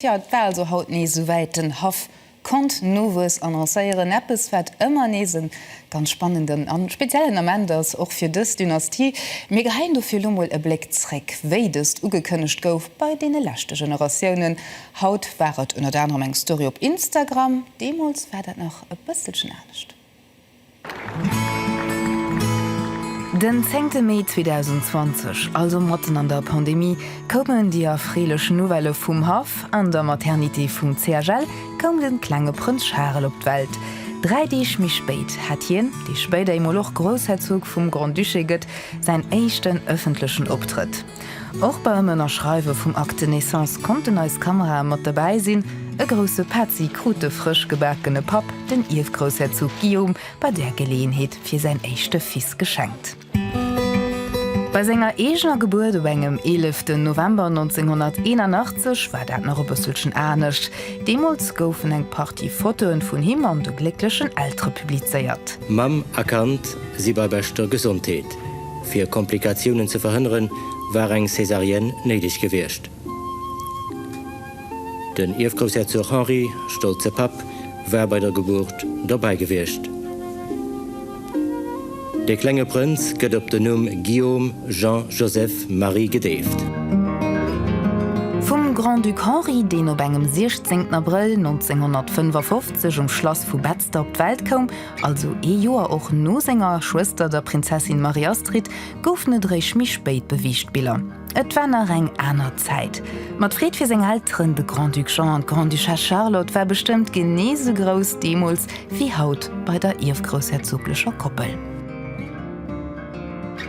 Tja, et war also haut nees esouwäit, den Haff konnt Nowuess annoncéieren, eppes wat ëmmer nees e ganz spannenden a speziellen Ament ass, och fir dës Dynastie. Mir geheien dofir elo mol e Bléck zréck, wéi dëst ugekënnegt gouf bei deene leschte Generatiounen. Haut war et ënnert anerem eng Story op Instagram, deemools war dat nach e bësselchen anescht. Den zéngte Mee 2020, also matten an der Pandemie, koumen déi erfreelech Nouvellë vum Haff, An der Maternité vum CHL koum de klenge Prënz Charel op d'Welt. Dräi Deeg méi spéit hat hien, dee spéider eemol och Groussherzog vum Grand-Duché gëtt, säin éischten ëffentlechen Optrëtt. Och beim Ënnerschreiwe vum Acte de Naissance konnten eis Kamerae mat dobäi sinn. E grousse Petzi krut de frësch gebakene Papp, den Ierfgroussherzog Guillaume, bei där Geleeënheet fir säin éischte Fils geschenkt. Bei senger eegener Gebuert op engem 11 den November 1981 war dat nach e bësselchen anescht. Deemools goufen eng Partie Fotoe vun him an de glécklechen Eltere publizéiert. Mamm a Kand si bei beschter Gesondheet. Fir Komplikatiounen ze verhënneren, war eng Césarienne néideg gewiescht. Den Ierfgroussherzog Henri, stolze Papp, war bei der Gebuert dobäi gewiescht. De klenge Prënz gëtt op den Numm Guillaume Jean Joseph Marie gedeeft. Vum Grand-Duc Henri, deen op engem 16 Abrëll 1955 um Schlass vu Betzder op d'Welt koum, Also ee Joer och no senger Schwëster, der Prinzessin Marie-Astrid, goufen et eréischt méi spéit beweegt Biller. Et war nach eng aner Zäit. Ma d'Freed fir seng Elteren, de Grand-Duc Jean an d'Grande-Duchesse Charlotte, war bestëmmt genee esou grouss deemools wéi haut bei der ierfgroussherzoglecher Koppel.